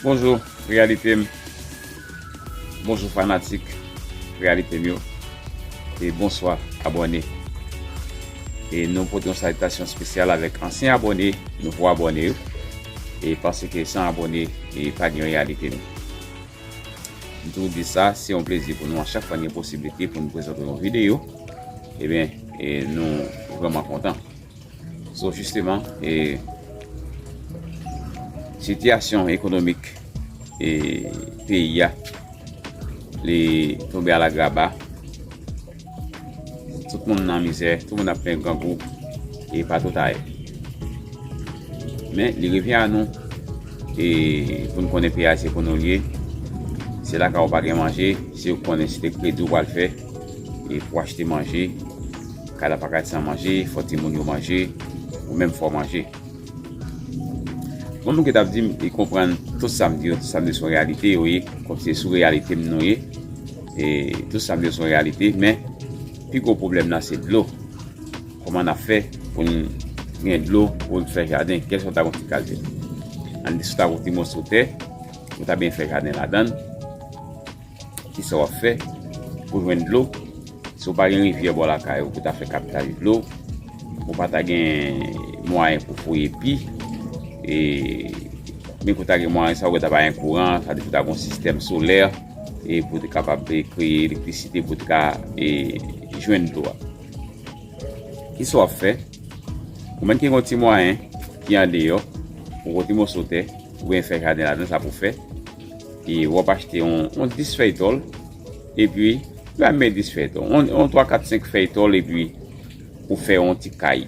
Bonjou reyalite m Bonjou fanatik reyalite m yo e bonswa abòne e nou pote yon salitasyon spesyal avèk ansyen abòne nouvo abòne yo e paske san abòne e pa gen reyalite m m toujou di sa se yon plezi pou nou a chak fwa gen posiblite pou nou prezante yon videyo e ben e nou vreman kontan. So jisteman, sitiyasyon ekonomik peyi a li tonbe alagraba. Tout moun nan mizè, tout moun ap plen grangou e pa tout aye. Men, li revyen a nou e pou nou konnen peyi a se konnen ou li ye. Se la ka ou pa gen manje, se ou konnen se te kredi ou pral fè e pou achte manje. Kay la paka san manje fò timoun yo manje ou menm fò manje Bon moun ki tap dim li konprann tout sam di yo tout sam di yo son reyalite yo ye kòm se sou reyalitem nou ye e tout sam di yo son reyalite men pi gwo pwoblèm nan se dlo kòman nap fè poun gen dlo poun fè jaden kèlswa nou ta gon ti kalte an nou ta gon ti moso tè nou ta byen fè jaden ladann. Kisa wap fè pou jwenn dlo si w pa gen rivyè bò lakay ou pou ta fè kaptaj dlo, ou pa ta gen mwayen pou fouye pi, e menm ke w ta gen mwayen sa ou wè ta pa gen kouran, sa vle di pou ta gen yon sistèm solè e pou te kapab kreye elektrisite pou te ka jwenn dlo a. Kisa wap fè ou menm ki gen yon ti mwayen ki andeyò, yon ti moso tè ou byen fè jaden ladan sa pou fè. E wap achte yon 10 fèy tòl, epi, ba m men 10 fèy tòl, yon 3, 4, 5 fèy tòl epi ou fè yon ti kay.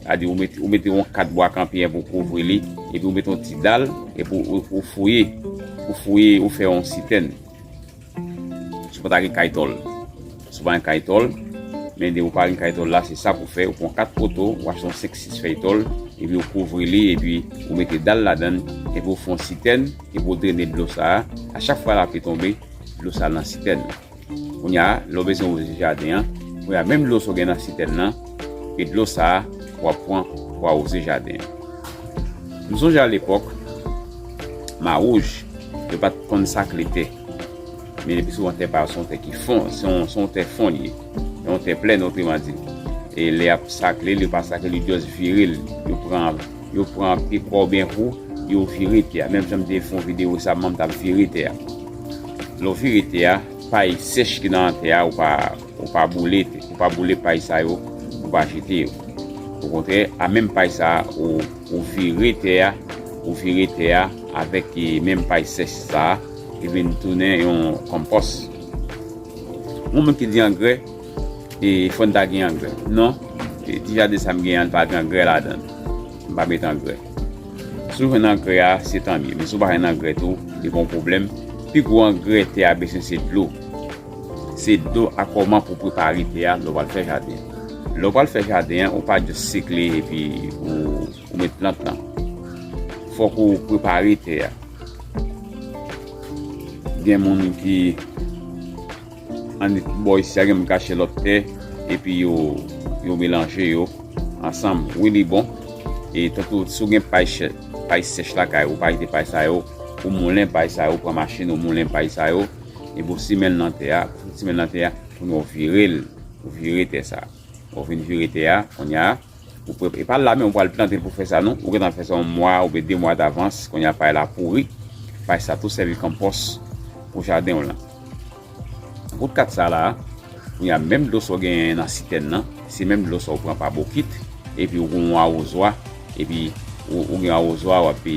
A di ou mete yon 4 bwa kanpyen pou kouvri li, epi ou mete yon ti dal, epi ou fouye, ou fouye, ou fè yon sitèn. Sou pa ta gen kay tòl. Si w pa gen kay tòl, men depi w pa gen kay tòl la, se sa pou w fè, ou pran 4 poto, ou achte yon 5, 6 fèy tòl, epi ou kouvri li, epi ou mete dal ladan, epi ou fè yon sitèn, epi ou drene dlo sa a, a chak fwa lapli tonbe, dlo sa al nan sitèn nan. Kounye a, lè w bezwen wouze jaden an, kounye a menm dlo sa w gen nan sitèn nan, e dlo sa a w ap pran pou awouze jaden an. M sonje a lepòk, Mawouj, yo pa t konn sakle tè. Men depi se yon tè pa yo, se yon tè ki fon, se yon tè fon li ye. Se yon tè plèn otreman di. E lè y ap sakle l, yo pa sakle l, yo just vire l. Yo pran, yo pran pye kwa w byen wo, yo vire tè a. Menm jan m te fè yon videyo sa, mwen menm t ap vire tè a. Lè w vire tè a, pay sèch ki nan tè a, ou pa, ou pa boule, ou pa boule pay sa yo, ou pa jete yo. Okontrè, a menm pay sa a, ou vire tè a, ou vire tè a avèk menm pay sèch sa a. Li vin tounen yon konpòs. Yon moun ki di angrè, e fò n ta gen angrè. Non, ti jaden sa m gen an, li pa gen angrè ladan l. M pa met angrè. Si w jwenn angrè a, se tanmye. Men si w pa jwenn angrè tou, li pa yon pwoblèm. Pi gwo angrè tè a bezwen se dlo. Se dlo ak kòman pou w prepare tè a lè w al fè jaden. Lè w pral fè jaden an, ou pa jis sikle epi ou. Ou met plant lan. Fòk ou prepare tè a. Gen moun ki annik bò isi a gen moun kache lòt tè epi yo melanje yo ansanm. Wi li bon. E tankou sou gen pay sèch lakay ou pa jete pay sa yo. Ou moulen pay sa yo. Ou pran machin ou moulen pay sa yo. E pou simen nan tè a. Pou simen nan tè a. Pou nou vire l. Vire tè sa. Ou vin vire tè a. Konya. Ou prepare, e pa la men ou pral plante pou fè sa non. Ou gentan fè sa yon mwa oubyen 2 mwa davans, kounye a pay la pouri. Pay sa tou sèvi konpòs pou jaden w lan. Kout kat sa la, kounye a menm dlo sa w genyen nan sitèn nan, se menm dlo sa w pran pa bokit, epi ou gen yon awozwa, epi ou gen yon awozwa w ape.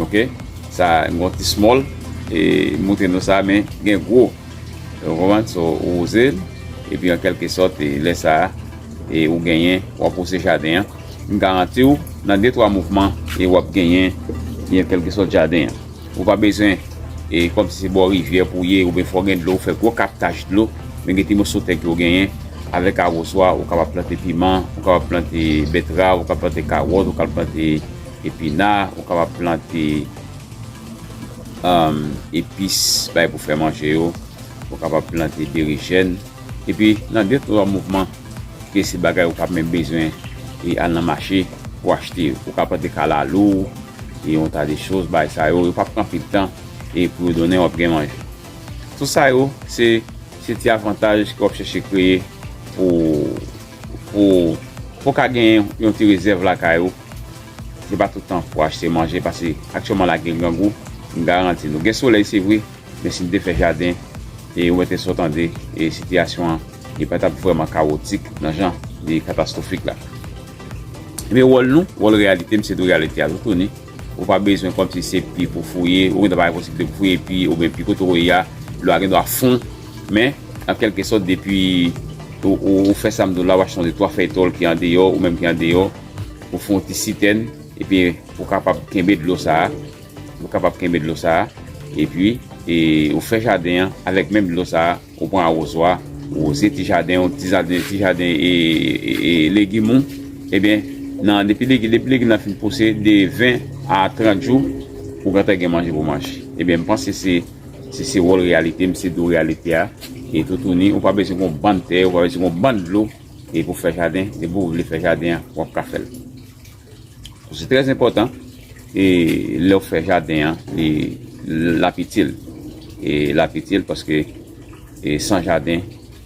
Ok sa gon ti small e moutre nou sa men gen gwo ou konprann so ou wouze l epi an kelke sòt e lè sa e ou genyen wap wouse jaden an m garanti w nan de twa mouvman e wap genyen e an kelke sòt jaden an ou pa bezwen e kòm si se bò rivyè pou ye oubyen fò gen dlo fè gwo kaptaj dlo men gen ti moso tè ke ou genyen avèk awoswa ou kapab plante piman ou kapab plante betrav ou kapab plante kawòt ou kapab plante Epina ou kapab plante epis bay pou fè manje yo, ou kapab plante berijèn epi nan de twa mouvman ke se bagay ou pap menm bezwen e al nan mache pou achte yo. Ou ka plante kalalou e yon ta de choz bay sa yo, yo pap pran anpil tan e pou yo donnen wap gen manje. Tout sa yo se ti avantaj ke wap chèche kreye pou pou ka gen yon ti rezèv lakay ou. Se pa tout tan pou achte manje pase aktyèlman la gen grangou, m garanti nou. Gen solèy se vre, men si nou te fè jaden e wè tè sa w tande, sitiyasyon an li pa t ap vrèman kawotik nan jan li katastwofik la. Ebyen wòl nou, wòl reyalite m se di w reyalite a tou tounen, ou pa bezwen kòmsi se pi pou w fouye, ou gendwa pa gen posiblite pou w fouye pi oubyen pi kote w ye a dlo a gendwa fon, men an kèlke sòt depi ou fè sa m di w la w achte yon de twa fèy tòl ki andeyò ou menm ki andeyò. Ou fè yon ti sitèn, epi ou kapab kenbe dlo sa a, ou kapab kenbe dlo sa a, epi ou fè jaden an avèk menm dlo sa a, ou pran awozwa, ou woze ti jaden ou, ti jaden legim ou, ebyen, nan depi legim nan fin pouse, de 20 a 30 jou, ou gentan gen manje pou manje. Ebyen, m panse se, se se wòl reyalite, m se dou reyalite a, e toutouni, ou pa bezwen yon bann tè, ou pa bezwen yon bann dlo. e pou fè jaden e pou vle fè jaden an wap ka fèl se trè zimpotan e lè ou fè jaden an li lap itil e lap itil paske e san jaden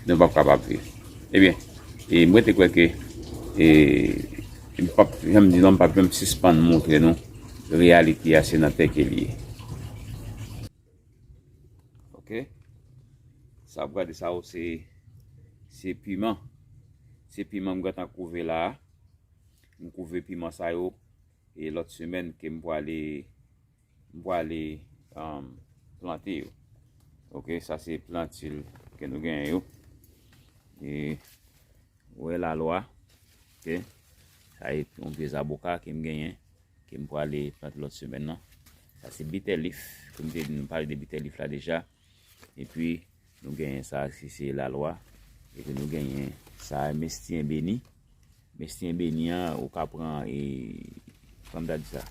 nou pap kapab viv e byen e mwen te kwè ke e m pap janm di non m pap janm sispann moutre nou reyalite a se nan tè ke li ye. Ok. Sa ap gade sa ou se se piman. Se piman m gentan kouve la. M kouve piman sa yo e lòt semèn ke m pwale m pwale um, plante yo. Ok, sa se plantil ke nou genyen yo. E wè la lwa. Ok. Sa e yon vye zaboka ke m genyen. Ke m pwale plant lòt semèn lan. Sa se bitter leaf. Ke m te di nou pale de bitter leaf la deja. E pi nou genyen sa ki se la lwa. E pi nou genyen sa a mestiyen beni. Mestiyen beni an ou ka pran e kòm ta di sa.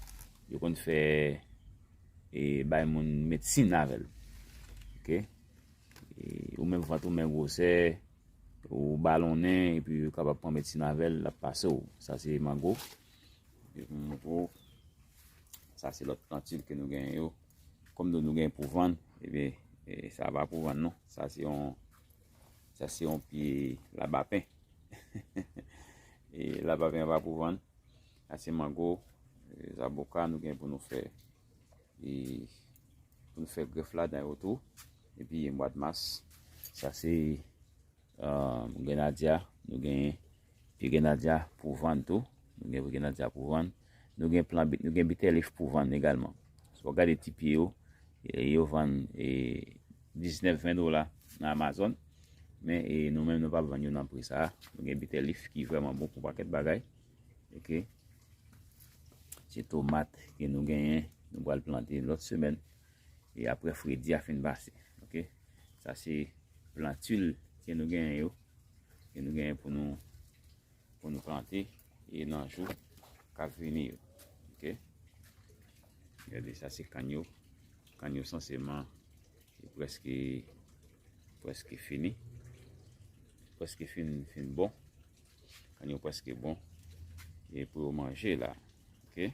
Yo konn fè e bay moun medsin avè l. Ok. E ou menm vant ou men gwosè. Ou balonnen e pi ou kapab pran medsin avè l. L ap pase w. Sa se mango. Sa se lòt plantil ke nou genyen yo. Kòm nou nou genyen pou vann, ebe, sa va pou vann nou. Sa se yon, sa se yon pi labapen. E labapen va pou vann. Sa se mango, zaboka nou genyen pou nou fè. E pou nou fè gref la dan yo tou. E pi yon mwad mas. Sa se. Grenadya, nou gen pye grenadya pou vann tou. Nou gen pye grenadya pou vann. Nou gen plan bit, nou gen bitelif pou vann egalman. Sou wap gade ti pye yo, yo vann 19-20 dola nan Amazon. Men nou men nou pap vann yo nan pri sa. Nou gen bitelif ki vreman bon pou paket bagay. Ok. Se tomat ke nou genyen, nou pral plante lot semen. e aprè fredi a fin pase ok sa se plantul ke nou genyen yo ke nou genyen pou nou pou nou plante e nan jou kap vini yo ok gade sa se kann yo kann yo sanseman e preske preske fini preske fin fin bon kann yo preske bon e pou yo manje la ok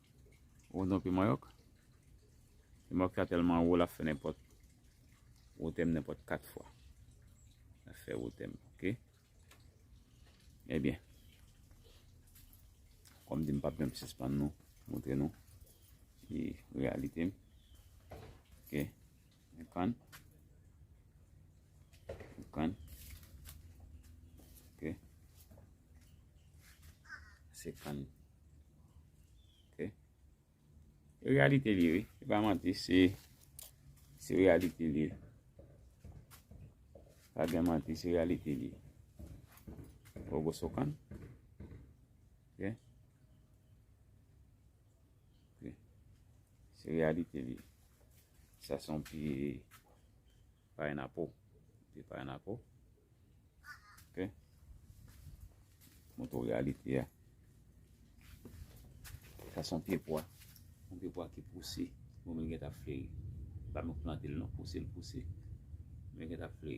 Ou kontan pye mayòk? Pye mayòk sa tèlman wo lap fè nenpòt wotè m nenpòt 4 fwa. Lap fè wotè m ok. Ebyen. Kòm di m pap janm sispann nou montre nou ki reyalite m. Ok. Konprann? Konprann? Ok. Se kan. Ok. E realite li, oui. E pa manti, se se realite li. Pa gen manti, se realite li. Ou gos ou kan? Ok. Se reyalite li. Sa son pye paynapo. Pye paynapo. Ok. Mwen tou reyalite ya. Sa son pye pwa. Mwen pye pwa ki pouse. Mwen mwen gen ta fle. Mwen mwen plante l non. Pouse l pouse. Mwen gen ta fle.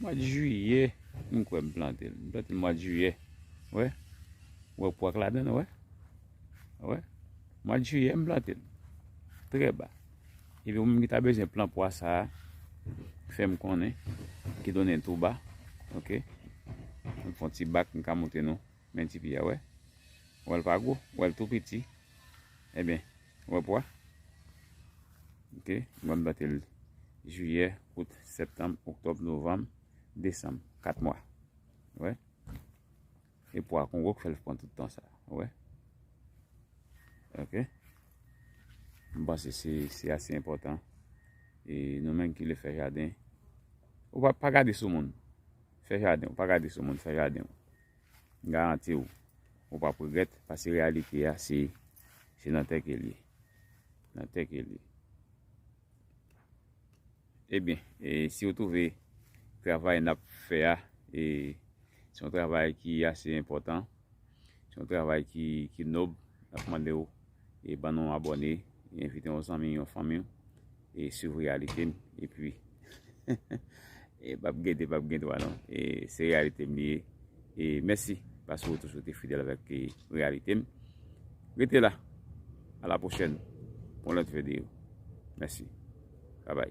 Mwad jiyè m kwè m plante l. M plante l mwad jiyè. Wè. Wè pou ak ladan l wè. Wè. Mwad jiyè m plante l. Trè ba. E pou moun ki ta bezyen plant pwa sa a, fè m konnen. Ki donnen l tou ba. Ok. M fon ti bak m ka monte nou. Men ti pi a wè. Wè l pa gwo. Wè l tou piti. E eh ben. Wè pwa. Ok. Mwa m plante l jiyè, out, septanm, oktòb, novanm, desanm. 4 mwa. Wè. E pwa kon wok fè l pran tout tan sa. Wè. Ok. M panse se ase enpòtan. E nou menm ki vle fè jaden. Ou pa gade sou moun. Fè jaden. Ou pa gade sou moun. Fè jaden. M garanti w, ou pap regrèt pase reyalite a se se nan tè ke l ye. Nan tè ke l ye. Ebyen, e si w twouve travay n ap fè a e se yon travay ki ase enpòtan, se yon travay ki nòb, n ap mande w. e ban nou abòne e envite yon zanmi yon fanmiw e swiv reyalitem epi e pap gen 2 pap gen 3 non e se reyalitem li ye e mèsi paske ou toujou te fidèl avèk reyalitem rete la a la pwochèn pou yon lòt videyo mèsi babay.